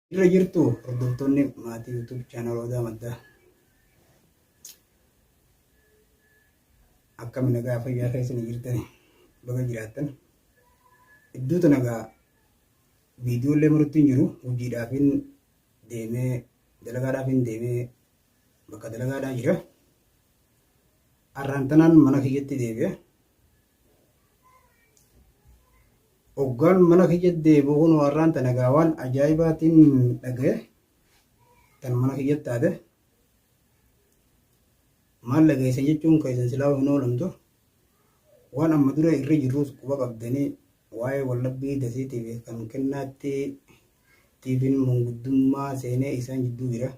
Irra jirtu hordoftoonni maatii YouTube channel Odaa Maddaa. Akkami nagaa fayyaa keessanii jirtanii baga jiraattan. Iddoota nagaa viidiyoolee maratti hin jiru hojiidhaaf hin deemee dalagaadhaaf hin deemee bakka dalagaadhaa jira. Har'aan tanaan mana kiyyatti deebi'e. Oggaan mana kiyya deebi'u kun warraan tana egaa waan ajaa'ibaatiin dhagaye tan mana kiyyatti taate maal dhageessan jechuun keessan silaa hin oolamtu waan amma dura irra jirrus quba qabdanii waa'ee wallabbii dasiitiif kan kennaatti tiifiin manguddummaa seenee isaan jidduu jira.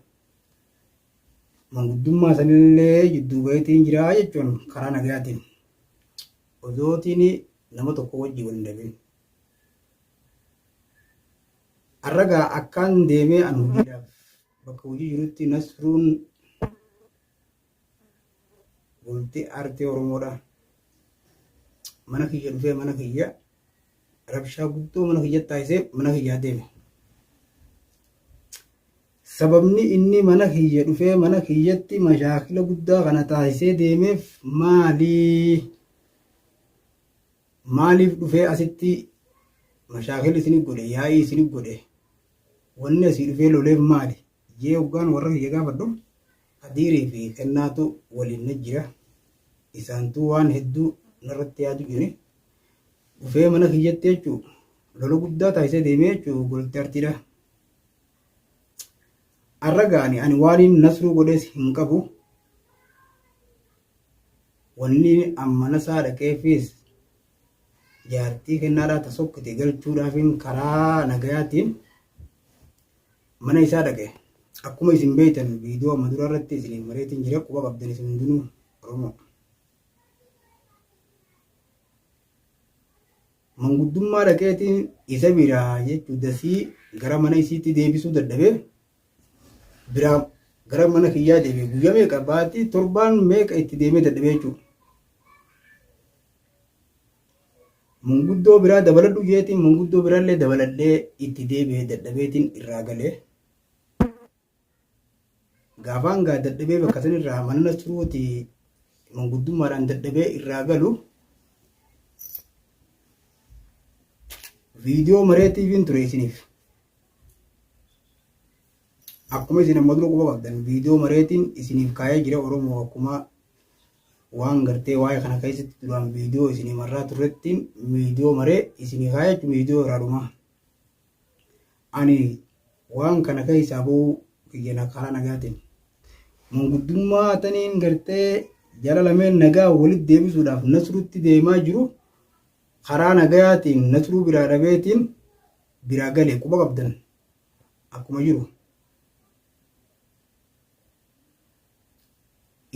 Manguddummaa sanillee jidduu baheetiin jira jechuun karaa nagayaatiin. Odootiin nama tokko wajji wal hin dhabin. Har'a gaa akkaan deemee an hojiidhaaf bakka hojii jirutti Nasruun bultii aartee Oromoodha. Mana kiyya dhufee mana kiyya rabshaa guddoo mana kiyya taasisee mana kiyyaa deeme. Sababni inni mana kiyya dhufee mana kiyyatti mashaakila guddaa kana taasisee deemeef maali? Maaliif dhufee asitti mashaakila isinif godhe, yaa'ii isinif godhe, wanni asii dhufee loleef maali? Jee hoggaan warra kiyya gaafadhu Kadiirii fi Kennaatu waliin na jira. Isaantuu waan hedduu narratti yaadu jire. Dhufee mana kiyyatti jechuu lola guddaa taasisee deemee jechuu golti artiidha. Arra gaani ani waaniin nasruu godhees hin qabu. Wanni amma nasaa dhaqeefiis jaartii kennaadhaa ta sokkite galchuudhaafiin karaa nagayaatiin mana isaa dhaqe. Akkuma isin beektan viidiyoo amma dura irratti isiniif mareetiin jira quba qabdan isin hundinuu Oromoo. manguddummaa dhaqeetiin isa biraa jechuun dasii gara mana isiitti deebisuu dadhabee biraa gara mana kiyyaa deebi'e guyyaa meeqa baatii torbaan meeqa itti deemee dadhabee jechuudha. Manguddoo biraa dabaladhu jeetiin manguddoo biraallee dabaladhee itti deebi'ee dadhabeetiin irraa galee. Gaafaan gaa dadhabee bakka san irraa manana turuuti manguddummaadhaan dadhabee irraa galu viidiyoo maree tiiviin ture isiniif. Akkuma isin amma dura quba qabdan viidiyoo mareetiin isiniif kaa'ee jira Oromoo akkuma waan gartee waa'ee kana keessatti duraan viidiyoo isinii marraa turrettiin viidiyoo maree isinii kaa'ee viidiyoo irraa dhumaa. Ani waan kana keessaa ba'uu kiyya na karaa nagaatiin manguddummaa taniin gartee jara lameen nagaa walitti deebisuudhaaf nasruutti deemaa jiru karaa nagaatiin nasruu biraa dhabeetiin biraa gale quba qabdan akkuma jiru.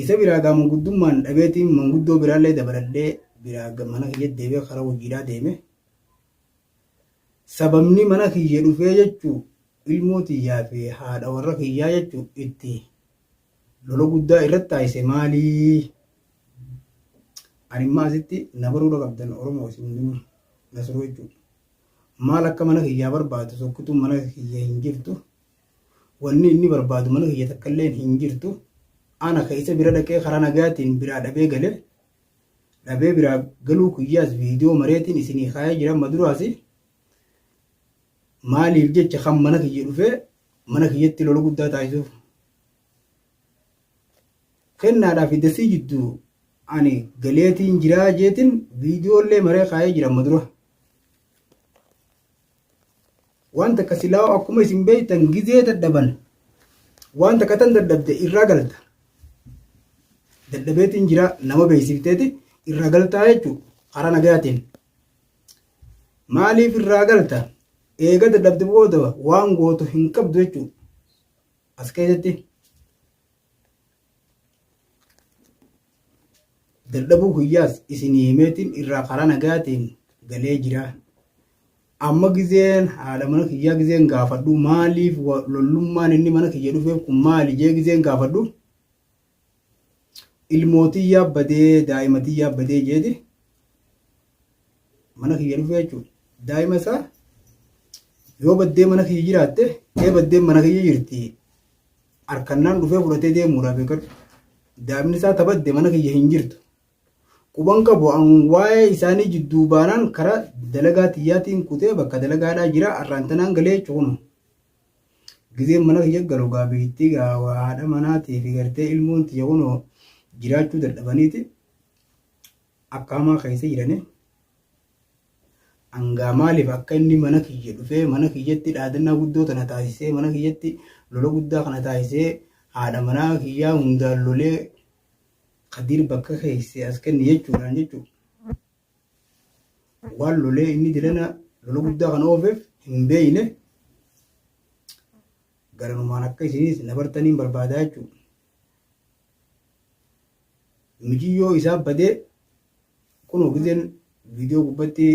Isa biraa gaa manguddummaan dhabeetiin manguddoo biraallee dabaladhee biraa mana kiyyatti deebi'ee karaa hojiidhaa deeme. Sababni mana kiyya dhufee jechu ilmoo tiyyaa fi haadha warra kiyyaa jechu itti lola guddaa irratti taasise maali? Ani immoo asitti na baruu dhaqabdan Oromoo isin hundinuu Nasruu jechuudha. Maal akka mana kiyyaa barbaadu sokkituun mana kiyya hin jirtu. Wanni inni barbaadu mana kiyya takka illee hin jirtu. Ana ka isa bira dhaqee karaa nagaatiin biraa dhabee gale dhabee biraa galuu kiyyaas viidiyoo mareetiin isinii kaayee jira amma duraasi maaliif jecha kan mana kiyya dhufee mana kiyyatti lola guddaa taasisuuf kennaadhaa fi dasii jidduu ani galeetiin jiraa jeetiin viidiyoollee maree kaayee jira amma dura. Waan takka silaa'uu akkuma isin beektan gizee dadhaban waan takka tan dadhabde irraa galta. Dadhabeetiin jira nama beeksifteeti irraa galtaa jechuudha karaa nagayaatiin. Maaliif irraa galta? Eega dadhabde booda waan gootu hin qabdu jechuudha. As keessatti. Dadhabuu kiyyaas isinii himeetiin irraa karaa nagaatiin galee jira. Amma gizeen haadha mana kiyyaa gizeen gaafadhu maaliif lollummaan inni mana kiyya dhufeef kun maali jee gizeen gaafadhu ilmootii yaabbadee daa'imatii yaabbadee jeeti mana kiyya dhufee jechuudha. Daa'ima isaa yoo baddee mana kiyya jiraatte ee baddeen mana kiyya jirti Arkannaan dhufee fudhatee deemuudhaaf eegadhu. Daabni isaa ta badde mana kiyya hin jirtu. Quban qabu an waa'ee isaanii jidduu baanaan karaa dalagaa tiyyaatiin kutee bakka dalagaadhaa jira arraan tanaan galee jechu kuno. Gizeen mana kiyya galu gaa beektii gaa waa haadha manaatii fi gartee ilmoon tiyya kuno jiraachuu dadhabaniiti akka hamaa keessa jiranii. Hangaa maaliif akka inni mana kiyya dhufee mana kiyyatti dhaadannaa guddoo tana taasisee mana kiyyatti lola guddaa kana taasisee haadha manaa kiyyaa hundaan lolee kadiir bakka keesse as kenni jechuudhaan jechuudha. Waan lolee inni dilana lola guddaa kana oofeef hin beeyne garanumaan akka isinis na bartaniin barbaadaa jechuudha. Mijiyyoo isaa badee Kunoo gizeen viidiyoo gubbatti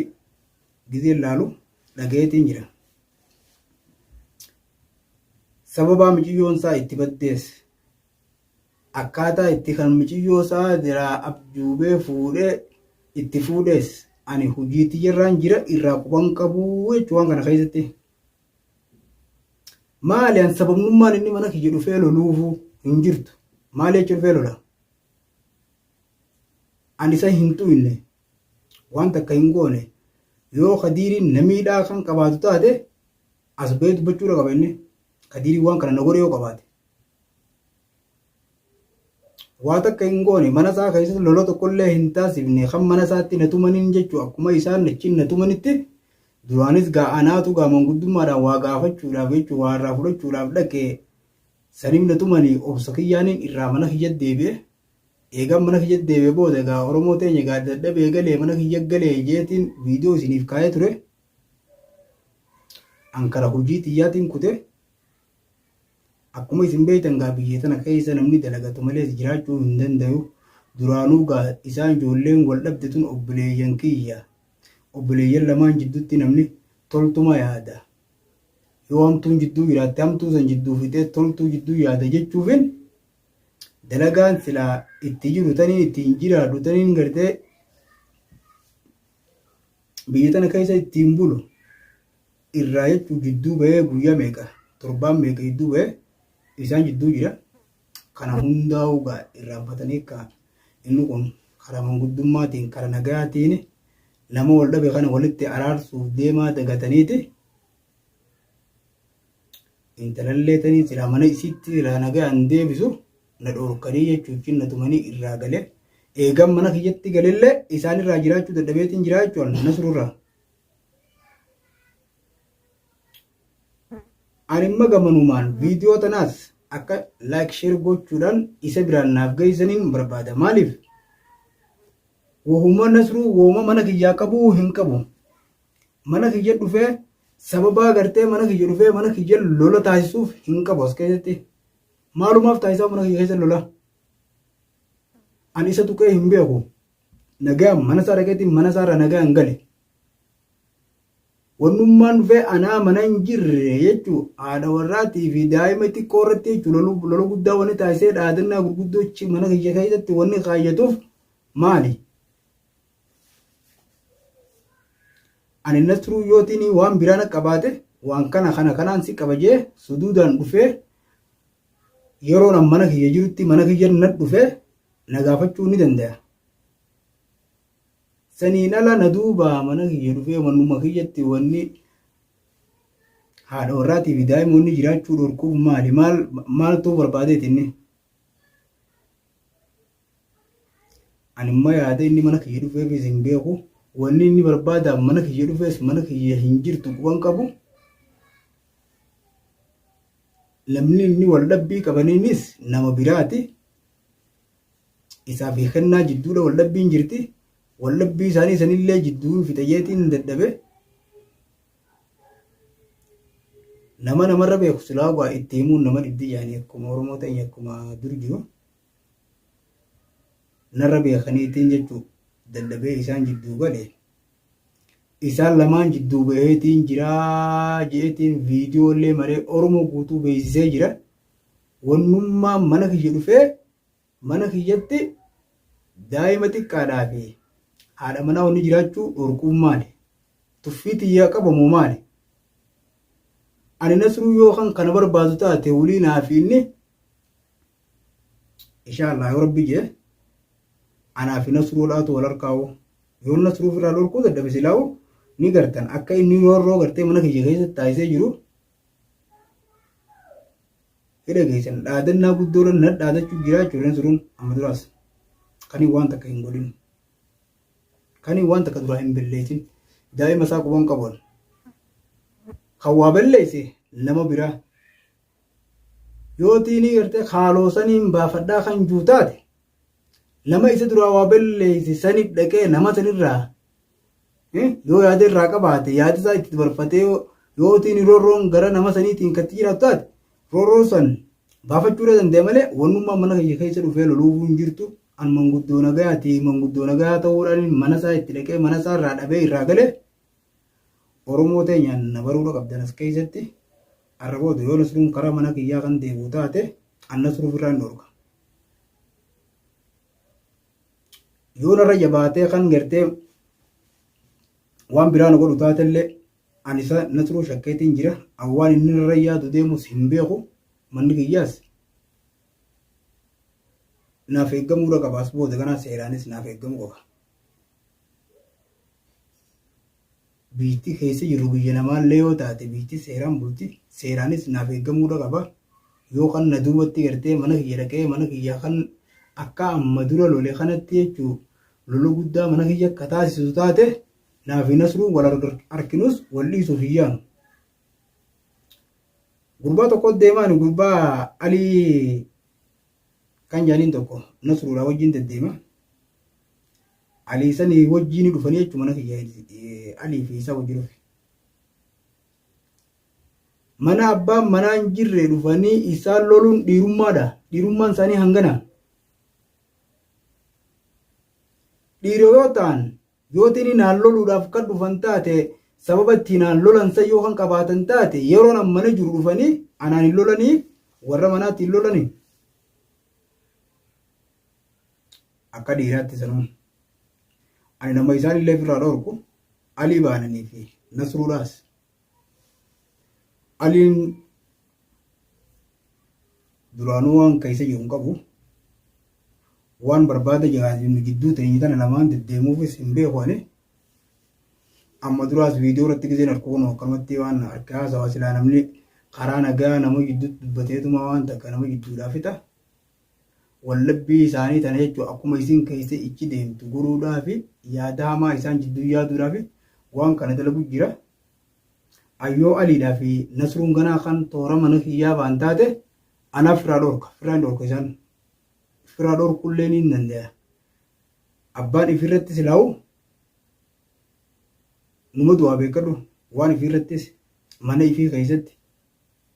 gizeen laalu dhagayeetiin jira. Sababaa miciyyoon isaa itti baddees akkaataa itti kan miciyyoo isaa jiraa abjuubee fuudhee itti fuudhees ani hojii tiyyarraan jira irraa quban qabu jechuu waan kana keessatti. Maali an sababnummaan inni mana kiyya dhufee loluufu hin jirtu. Maali jecha dhufee lola? An isa hin tu'inne, waan takka hin goone, yoo Kadiiriin na miidhaa kan qabaatu taate as bahee dubbachuudha qaba inni. Kadiiriin waan kana na godhe yoo qabaate. Waa takka hin goone mana isaa keessatti lola tokkollee hin taasifne kan mana isaatti na tumaniin jechuun akkuma isaan achiin na tumanitti duraanis gaa anaatu gaa manguddummaadhaan waa gaafachuudhaaf jechuun waa irraa fudhachuudhaaf dhaqee saniif na tumanii obsa kiyyaaniin irraa mana kiyya deebi'e. Eegan mana kiyya deebi'e booda egaa Oromoo teenya egaa dadhabee galee mana kiyya galee jeetiin viidiyoo isiniif kaa'ee ture. An kara hojii tiyyaatiin kute. Akkuma isin beektan gaa biyya tana keessa namni dalagatu malees jiraachuu hin dandayu. Duraanuu gaa isaan ijoolleen wal dhabde tun obboleeyyan kiyya. Obboleeyyan lamaan jidduutti namni toltuma yaada. Yoo hamtuun jidduu jiraatte hamtuu san jidduu fixee toltuu jidduu yaada jechuufin dalagaan silaa itti jiru taniin ittiin jiraadhu taniin gartee biyya tana keessa ittiin bulu irraa jechuun jidduu bahee guyyaa meeqa torbaan meeqa jidduu bahee isaan jidduu jira kana hundaa'uu egaa irraanfatanii akka inni kun karaa manguddummaatiin karaa nagaatiin nama wal dhabe kana walitti araarsuuf deemaa dagataniiti Intalallee tanii silaa mana isiitti silaa nagayaan deebisu na dhoorkanii jechuutiin na tumanii irraa gale. Eegan mana kiyyatti galellee isaan irraa jiraachuu dadhabeetiin jiraa jechuun nasrurraa. Ani imma gamanumaan viidiyoo tanaas akka laayik sheer gochuudhaan isa biraan naaf geessaniin barbaada. Maaliif? Wahuma nasruu wooma mana kiyyaa qabuu hin qabu. Mana kiyya dhufee sababaa gartee mana kiyya dhufee mana kiyya lola taasisuuf hin qabu as keessatti. Maalumaaf taasisaa mana kiyya keessa lola. Ani isa tuqee hin beeku. Nagaa mana isaa dhaqeetiin mana isaa irraa nagaa hin gale. Wannummaan dhufee anaa mana hin jirre jechuun haadha warraatii fi daa'ima xiqqoo irratti jechuun lola guddaa wanni taasisee dhaadannaa gurguddoo mana kiyya keessatti wanni kaayyatuuf maali? Ani Nasruu yootiin waan biraa na qabaate waan kana kana kanaan si qaba jee suduudaan dhufee yeroo nan mana kiyya jirutti mana kiyya na dhufee na gaafachuu ni dandaya. Saniin ala na duubaa mana kiyya dhufee manuma kiyyatti wanni haadha warraatii fi daa'imoonni jiraachuu dhorkuuf maali maal maaltu barbaadeeti inni. Ani immoo yaada inni mana kiyya dhufeefis hin beeku. Wanni inni barbaadaan mana kiyya dhufees mana kiyya hin jirtu quban qabu. Namni inni wal dhabbii qabaniinis nama biraati. Isaa fi kennaa jidduudha wal dhabbiin jirti. Wal dhabbii isaanii sanillee jidduu fixayyeetiin dadhabe. Nama namarra beeku silaa waa itti himuun nama dhibdi jaanii akkuma Oromoo ta'in akkuma dur jiru. narra beekaniitiin jechuu dadhabee isaan jidduu gale isaan lamaan jidduu baheetiin jiraa jeetiin viidiyoo illee maree oromoo guutuu beeksisee jira wannummaa mana kiyya dhufee mana kiyyatti daa'ima xiqqaadhaa fi haadha manaa wanni jiraachuu dhorkuun maali tuffii tiyyaa qabamu maali ani nasruu yoo kan kana barbaadu taate waliin haafiinni Inshaa Allah yoo rabbi jee anaa fi nasruu laatu wal harkaa'u yoo nasruu firaa lorkuu dadhabe silaa'u ni gartan akka inni roorroo gartee mana kiyya keessatti taasisee jiru hidha keessan dhaadannaa guddoodhaan na dhaadachuu jiraa ijoolleen suruun amma duraas kanii waan takka hin godhin kanii waan takka duraa hin belleessin daa'ima isaa quban qaban kan waa belleesse nama biraa Yoo tiinii gartee kaaloo saniin baafadhaa kan juu taate nama isa duraa waa balleeyse sanif dhaqee nama sanirraa yoo yaada irraa qabaate yaada isaa itti barfatee yoo tiinii roorroon gara nama saniitiin katti jiraatu taate roorroo san baafachuu irra danda'e malee wannummaa mana kiyya keessa dhufee loluufuu hin jirtu an manguddoo nagayaati manguddoo nagayaa ta'uudhaan mana isaa itti dhaqee mana isaa irraa dhabee irraa galee Oromoo teenyaan na baruudha qabdan as keessatti Har'a booda yoo Nasruun karaa mana kiyyaa kan deebi'u taate an Nasruu ofirraa hin dhorka. Yoo narra jabaatee kan gartee waan biraa na godhu taatellee an isa Nasruu shakkeetiin jira. An waan inni narra yaadu deemus hin beeku manni kiyyaas naaf eeggamuudha qaba as booda kanaa seeraanis naaf eeggamuu qaba. biyyittii keessa jirru biyya namaallee yoo taate biyyittiin seeraan bulti seeraanis naaf eeggamuudha qaba yoo kan na duubatti gartee mana kiyya dhaqee mana kiyya kan akka amma dura lole kanatti jechuu lola guddaa mana kiyya akka taasisu taate naaf hin asruu wal arkinuus wal dhiisuuf hin yaanu. Gurbaa tokko deemaan gurbaa alii kan jaaniin tokko nasruudhaa wajjin deddeema. Alii sani wajjii ni dhufanii jechuun mana kiyya Alii fi isaa wajjii dhufe. Mana abbaan manaa hin jirre dhufanii isaan loluun dhiirummaadha. Dhiirummaan isaanii hangana. Dhiira yoo ta'an yoo tini naan loluudhaaf kan dhufan taate sababa itti naan lolan san yoo kan qabaatan taate yeroo nan mana jiru dhufanii anaan hin lolanii warra manaatti hin lolanii. Akka dhiiraatti sanuu. Ani nama isaan illee ofirraa dhorku Alii baananii fi Nasruudhaas. Aliin duraanuu waan keessa jiru hin qabu. Waan barbaada jiraatu gidduu teenye tana lamaan deddeemuufis hin beeku ani. Amma duraas viidiyoo irratti giseen harka kun akkanumatti waan harka haasawaa silaa namni karaa nagaa nama gidduutti dubbateetuma waan takka nama gidduudhaa fixa. Wallabbii isaanii tana jechuun akkuma isiin keessa ichi deemtu godhuudhaafi yaada hamaa isaan jidduu yaaduudhaafi waan kana dalagu jira. Ayyoo Aliidhaa fi Nasruun ganaa kan toora mana kiyyaa baan taate anaa firaa dhorka. Firaa hin dhorka isaan. Firaa dhorkullee ni dandaya. Abbaan ifirratti silaa'u numa du'aa beekadhu waan ifirrattis mana ifii keessatti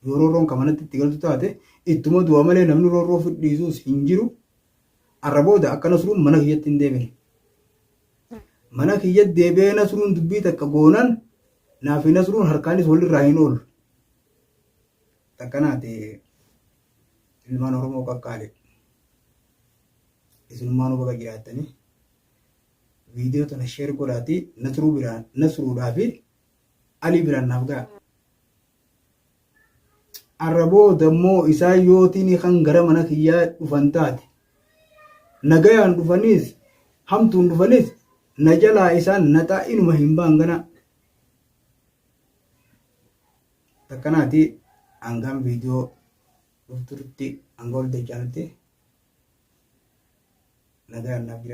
Yoo roorroon ka manatti itti galtu taate ittuma du'a malee namni roorroo ofi dhiisuus hin jiru. Arra booda akka Nasruun mana kiyyatti hin deebine. Mana kiyyatti deebi'ee Nasruun dubbii takka goonan naa fi Nasruun harkaanis walirraa hin oolu. Takkanaati ilmaan Oromoo qaqqaale. Isinummaanuu baga jiraattanii. Viidiyoo tana sheer godhaatii Nasruu biraa Nasruudhaa fi Alii biraan naaf ga'a. Arra booda immoo isaan yootiin kan gara mana kiyyaa dhufan taate. Nagayaan dhufaniis hamtuun dhufanis na jalaa isaan naxaa inuma hin baan ganaa. Takkanaati hangaan viidiyoo dhuftutti hanga ol deechaanitti nagayaan naaf jira.